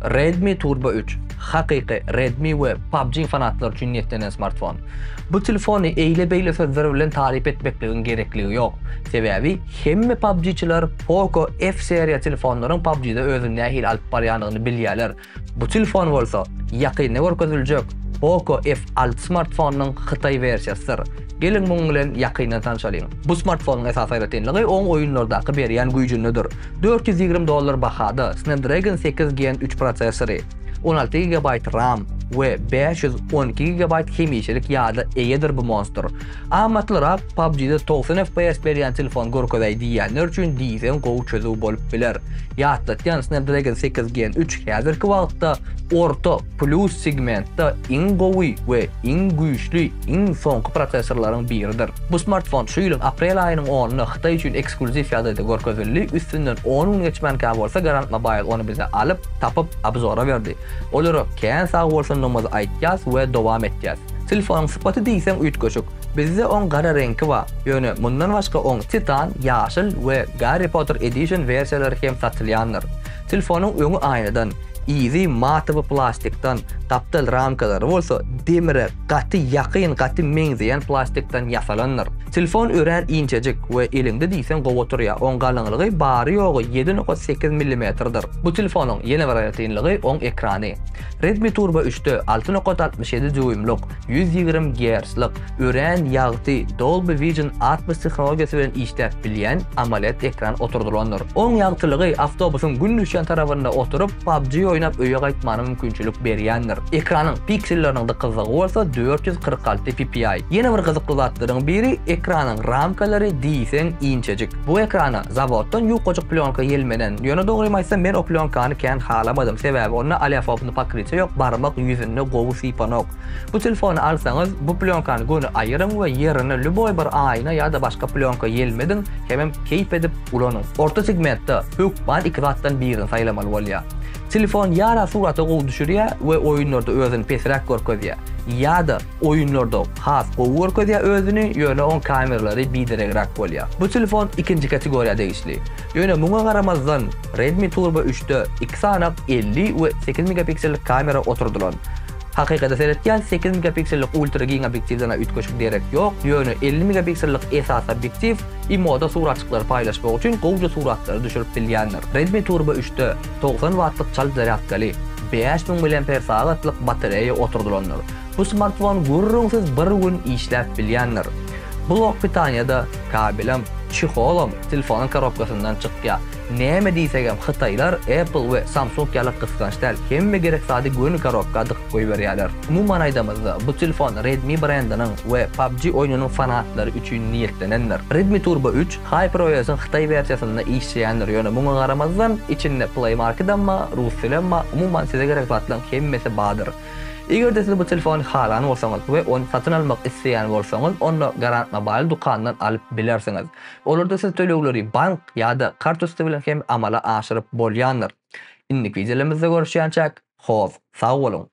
Redmi Turbo üç, hakyky Redmi we PUBG fanatlary üçin niýetlenen smartfon. Bu telefony eýle-beýle sözler bilen taryp etmekligiň gerekligi ýok. Sebäbi hemme PUBG-çiler Poco F seriýa telefonlaryň PUBG-de özüni nähili alyp barýandygyny bilýärler. Bu telefon bolsa ýakynda görkeziljek Poco F alty smartfonynyň hytaý wersiýasydyr. Geliň munuň bilen ýakyndan tanşalyň. Bu smartfonyň esasy aýratynlygy oň oýunlardaky berýän güýjündedir. Dört ýüz ýigrimi dollar bahada Snapdragon sekiz Gen üç prosessory, on alty gigabaýt ram we bäş ýüz on iki gigabaýt hemişelik ýada eýedir bu monstr. Amatlyrak PUBG-de togsan FPS berýän telefon görkezäý diýýänler üçin diýseň gowy çözüw bolup biler. Ýatlatýan Snapdragon sekiz Gen üç häzirki wagtda orta, Plus segmentde iň gowy we iň güýçli iň soňky prosessorlaryň biridir. Bu smartfon şu ýylyň aprel aýynyň onunda Hytaý üçin ekskluziw ýagdaýda görkezildi, üstünden on gün geçmänkä bolsa Garant Mobile ony bize alyp, tapyp, obzora berdi. Olara kän sag bolsundygyňyzy aýtýas we dowam etýäs. Telefonyň sypaty diýseň üýtgeşik. Bizde oň gara reňki ba, ýöne mundan başga oň Titan, ýaşyl we Garry Potter Edition wersiýalary hem satylýandyr. Telefonyň öňi aýnadan, yzy matowy plastikdan, gapdal ramkalary bolsa demire gaty ýakyn, gaty meňzeýän plastikdan ýasalandyr. Telefon örän inçejik we eliňde diýseň gowy oturýar. Oň galyňlygy bary-ýogy ýedi nokat sekiz millimetrdir. Bu telefonyň ýene bir aýratynlygy oň ekrany. Redmi Turbo üçde alty nokat altmyş ýedi dýuýmlyk, ýüz ýigrimi gertzlik, Örän ýagty Dolby Vision Atmos tehnologiýasy bilen işläp bilýän AMOLED ekran oturdylandyr. Oň ýagtylygy awtobusyň gün düşýän tarapynda oturyp, PUBG oýnap öýe gaýtmana mümkinçilik berýändir. Ekranyň pikselleriniň dykyzlygy bolsa dört ýüz kyrk alty ppi. Ýene bir gyzykly zatlaryň biri ekranyň ramkalary diýseň inçejik. Bu ekrana zawoddan ýukajyk plýonka ýelmenen. Ýöne dogrymy aýtsam men o plýonkany kän halamadym, sebäbi onda oleofobny pokrytýa ýok, barmak ýüzünde gowy sypanok. Bu telefony alsaňyz, bu plýonkany göni aýyryň we ýerine lýuboý bir aýna ýa-da başga plýonka ýelmediň hemem keýp edip ulanyň. Orta segmentde hökman iki zatdan birini saýlamaly bolýar. Telefon ýa-da surata gowy düşürýär we oýunlarda özüni pesräk görkezýär, ýa-da oýunlarda has gowy görkezýär özüni, ýöne oň kameralary bideregräk bolýar. Bu telefon ikinji kategoriýa degişli. Ýöne muňa garamazdan, Redmi Turbo üçde iki sanyk elli we sekiz megapiksellik kamera oturdylan. Hakykata seretýän sekiz megapiksellik ultra giň obýektiwden-ä üýtgeşik derek ýok, ýöne elli megapiksellik esasy obýektiw I moda suratjyklary paýlaşmak üçin gowja suratlary düşürip bilýändir. Redmi Turbo üçde togsan wattlyk çalt zarýadkaly, bäş müň mAh-lik batareýa oturdylandyr. Bu smartfon gürrüňsiz bir gün işläp bilýändir. Blok pitaniýa-da, kabelem, çeholam telefonyň korobkasyndan çykýar. Näme diýsegem hytaýlar Apple we Samsung ýaly gysganç däl, hemme gerek zady göni korobka dykyp goýberýärler. Umuman aýdamyzda, bu telefon Redmi brendiniň we PUBG oýnunyň fanatlary üçin niýetlenendir. Redmi Turbo üç, HyperOS-yň hytaý wersiýasynda işleýändir, ýöne muňa garamazdan, içinde Play Market-emma, Ruscell-emma, umuman size gerek zatlaryň hemmesi bardyr. Eger-de siz bu telefony halan bolsaňyz we ony satyn almak isleýän bolsaňyz, onda Garant Mobile dukanyndan alyp bilersiňiz. Olarda siz tölegleri bank ýa-da kartusty bilen hem amala aşyryp bolýandyr. Indiki wideolarymyzda görüşýänçäk, hoz, sag boluň!